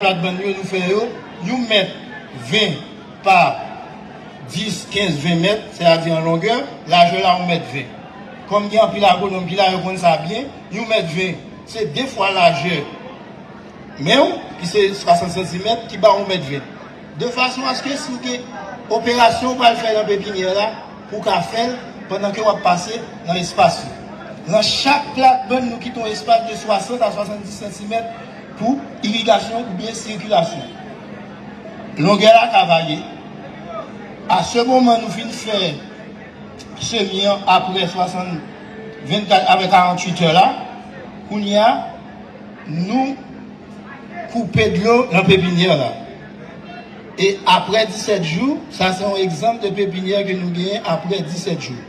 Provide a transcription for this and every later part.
Platbann yo nou fè yo, yon mèt 20 pa 10, 15, 20 mèt, sètadi an longè, lajè la yon mèt 20. Kòm gen anpil agwonòm ki la, yo konn sa byen, yon mèt 20 se 2 fwa lajè men w ki se 60 santimèt ki ba w yon mèt 20. De fason aske si w gen operasyon w pral fè nan pepinyè la, pou w ka fè l pandan ke w ap pase nan espas yo. Nan chak platbann nou kite yon espas de 60 a 70 santimèt. Pou irigasyon oubyen sikilasyon. Longè la ka varye. A se moman nou fin fè semi an aprè 60 24 aprè 48 tè la kounye a nou koupe dlo nan pepinyè la e aprè 17 jou sa se yon egzanp de pepinyè ke nou genyen aprè 17 jou.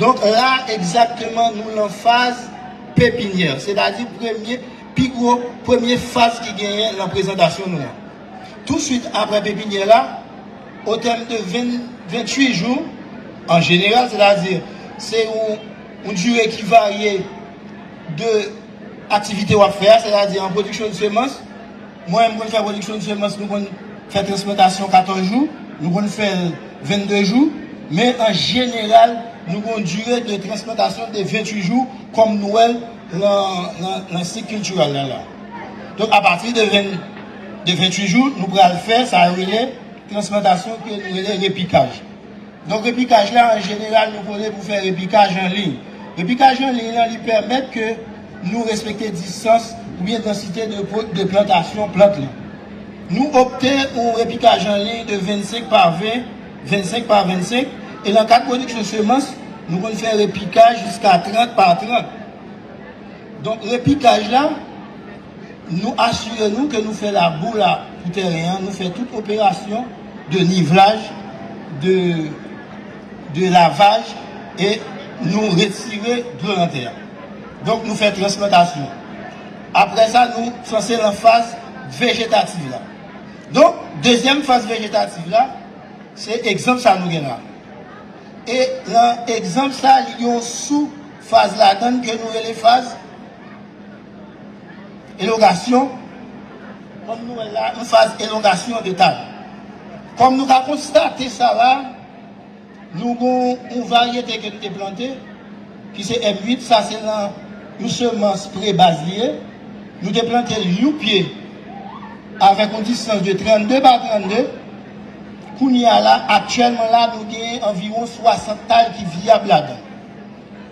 Donk la egzakteman nou lan faz pepinyè, setadi premye, pi gwo, premye faz ki genyen lan prezantasyon nou an. Tousuit apre pepinyè la, o tèm de 20, 28 jou, an jeneral, setadi se yon dire ki varye de aktivite w ap fè a, setadi an pwodiksyon de semans, Mwen menm m konn fè rediksyon semans nou konn fè transplantasyon 14 jou nou konn fèl 22 jou men an jeneral nou gen yon dire de transplantasyon de 28 jou kòm nou wèl nan sik kiltiral la la donk apati de 28 jou nou pral fè sa yo rele transplantasyon ke nou rele repikaj. Donk repikaj la an jeneral nou konnen pou fè repikaj an liy. Repikaj an liy lan li pèmèt ke nou respekte distans oubyen dansite de po de plantasyon plant lan. Nou opte pou yon repikaj an liy de 25 pa 20, 25 pa 25 e lan kad pwodiksyon semans nou konn fè repikaj jiska 30 pa 30. Donk repikaj la. Nou asire nou ke nou fè labou la pou tèren an, nou fè tout operasyon de nivelaj, de lavaj e nou retire dlo nan tè a. Donk nou fè transplantasyon. Apre sa nou sanse lan faz vejetativ la. Donk dezyèm faz vejetativ la, se egzanp sa nou gen la. E lan egzanp sa li gen yon sou faz ladan ke nou rele faz. Elongasyon, Kòm nou wè la, yon faz elongasyon de tab. Kòm nou ka konstate sa la, nou gen yon varyete ke nou te plante, ki se M 8, sa se nan yon semans pre-baz li ye. Nou te plante l yon pye avèk yon distans de 32 pa 32. Kounye a la, aktyèlman la, nou gen anviwon 60 tay ki vyab ladan.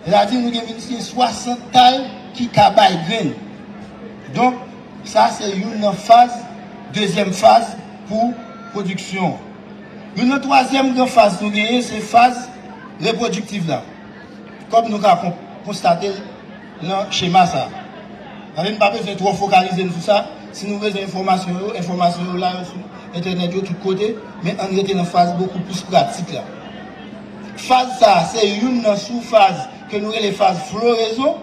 Radi nou gen minst gen 60 kay ki ka bay grenn. Donk sa se youn nan faz dezyèm faz pou pwodiksyon. Youn nan twazyèm gran faz nou genyen se faz repwodiktiv la. Kòm nou ka konstate l nan chema sa. N pa bezwen twò fokalize n sou sa. Si nou bezwen enfòmasyon yo, enfòmasyon yo la yo sou entènèt yo tout kote. Men ann rete nan faz bokou plis pratik la. Faz sa a se youn nan soufaz ke nou rele faz floraison,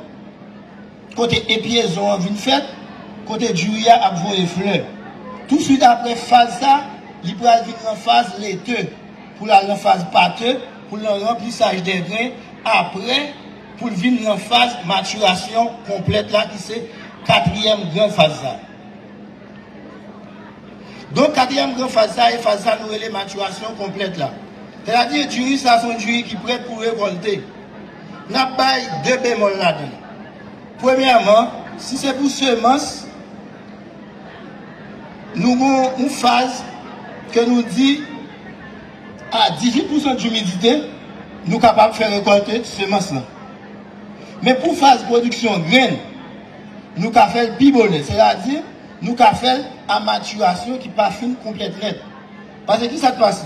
kote epiezon an vin fèt, kote diri a ap voye flè. Touswit apre faz sa, li pral vin lan faz lete, pou l al lan faz pate, pou l lan ranplisaj dè gren, apre pou l vin lan faz matirasyon konplèt la ki se katriyèm gran faz la. Donk katriyèm gran faz sa e faz sa nou rele matirasyon konplèt la. Sètadi diri sa son diri ki prèt pou rekolte. Nap bay 2 bemòl ladan. Premyèman, si se pou semans, nou gon yon faz ke nou di a 18 pousan dimidite, nou kapab fè rekolte semans lan. Men pou faz pwodiksyon grenn, Nou ka fè l pi bonè, sètadi nou ka fè l a matirasyon ki pa fin konplèt nèt. Pase ki sa k pase?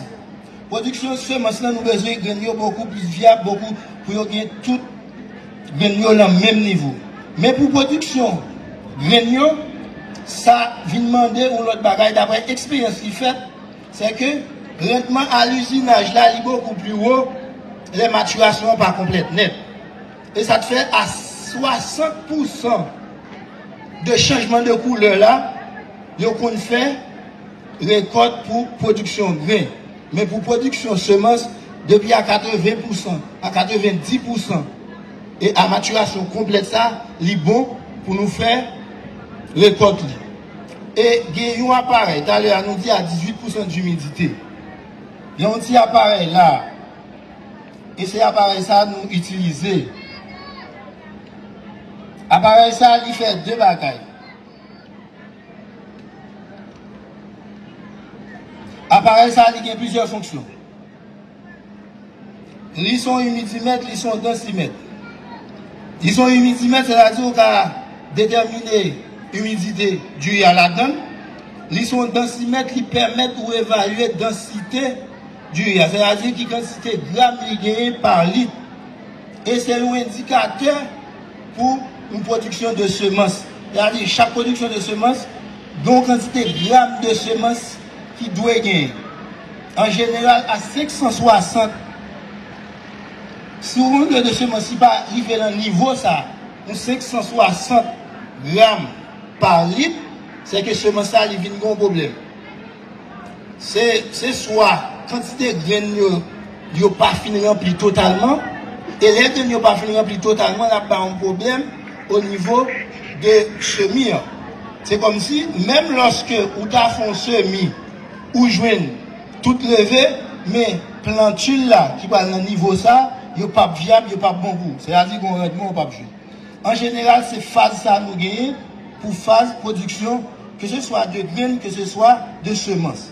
Pwodiksyon semans lan nou bezwen grenn yo bokou plis vyab bokou pou yo gen tout grenn yo lan menm nivo. Men pou pwodiksyon grenn yo, sa vin mande yon lòt bagay daprè eksperyans ki fèt, sè ke randman a lizinaj la li bokou pli wo lè matirasyon an pa konplèt nèt. E sa k fè a 60 pou san de chanjman de koulè la, yo konn fè rekòt pou pwodiksyon gren. Men pou pwodiksyon semans, depi a 80 pou san, a 90 pou san e a matirasyon konplèt sa, li bon pou nou fè rekòt li. E gen yon aparèy, talè a nou di a 18 pou san dimidite. Gen yon ti aparèy la a. E se aparèy sa a nou itilize. Aparèy sa a li fè 2 bagay. Aparèy sa a li gen plizyè fonksyon. Li son imidimèt, li son dansimèt. Li son imidimèt, sè ta di ou ka detèmine imidite diri a ladan l. Li son dansimèt, li pèmèt ou evalye dansite. Diya, sètadi ki kantite gram li genyen pa lit, e se yon endikatè pou yon pwodiksyon de semans. Sètadi chak pwodiksyon de semans gen yon kantite gram de semans ki dwe genyen. An jeneral a 560, si yon pwodiksyon de semans li pa rive nan nivo sa, yon 560 gram pa lit, se ke semans la li vin gen yon pwoblèm. Se swa kantite grenn yo yo pa fin ranpli totalman, e lè grenn yo pa fin ranpli totalman l ap bay yon pwoblèm onivo de semi an. Se kòmsi menm lòske ou ta fè yon semi ou jwenn tout leve men plantil la ki pral nan nivo sa yo p ap vyab, yo p ap bon gou. Sètadi gen yon randman ou p ap jwenn. An jeneral se faz sa nou genyen pou faz pwodiksyon ke se swa de grenn ke se swa de semans.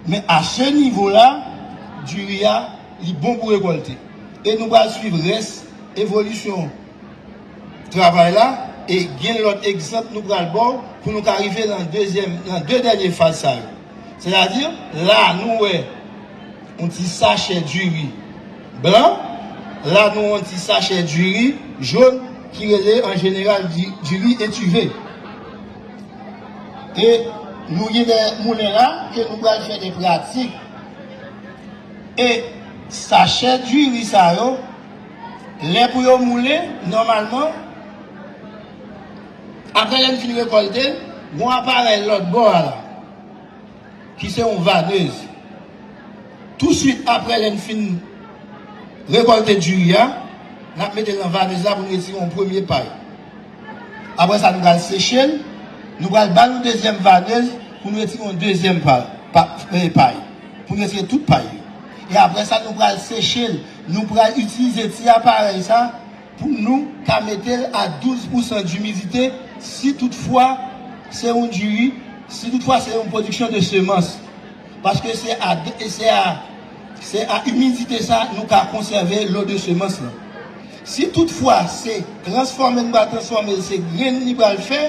Men a se nivo la diri a li bon pou rekòlte. E nou pral swiv rès evolisyon travay la e gen lòt egzanp nou pral ba w pou nou ka rive nan 2 dènye faz sa yo. Sètadi, la nou wè yon ti sachè diri blan, la nou wè yon ti sachè diri jòn ki rele an jeneral diri etive. E nou gen de moulen la ke nou pral fè de pratik. E sachè diri sa yo, lè pou yo moulen, nòmalman, Aprè lè n fin rekòlte l, gon aparèy lòt bò a la ki se yon vanez. Touswit aprè lè n fin rekòlte diri a, n ap mete l nan vanez la pou n retire yon premye pay. Aprè sa nou pral seche l, nou pral ba l yon dezyèm vanez pou n retire yon dezyèm pay, pou n retire tout pay yo. E aprè sa nou pral seche l, nou pral itilize ti aparèy sa. Pou nou ka mete l a 12 pousan dumidite si tout fwa se yon diri, si tout fwa se yon pwodiksyon de semans. Paske se a se a se a imidite sa nou ka konsève lo de semans lan. Si tout fwa se transfòme nou va transfòme l se grenn li pral fè,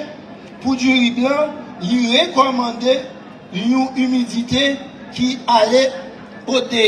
pou diri blan li rekòmande yon imidite ki ale o de.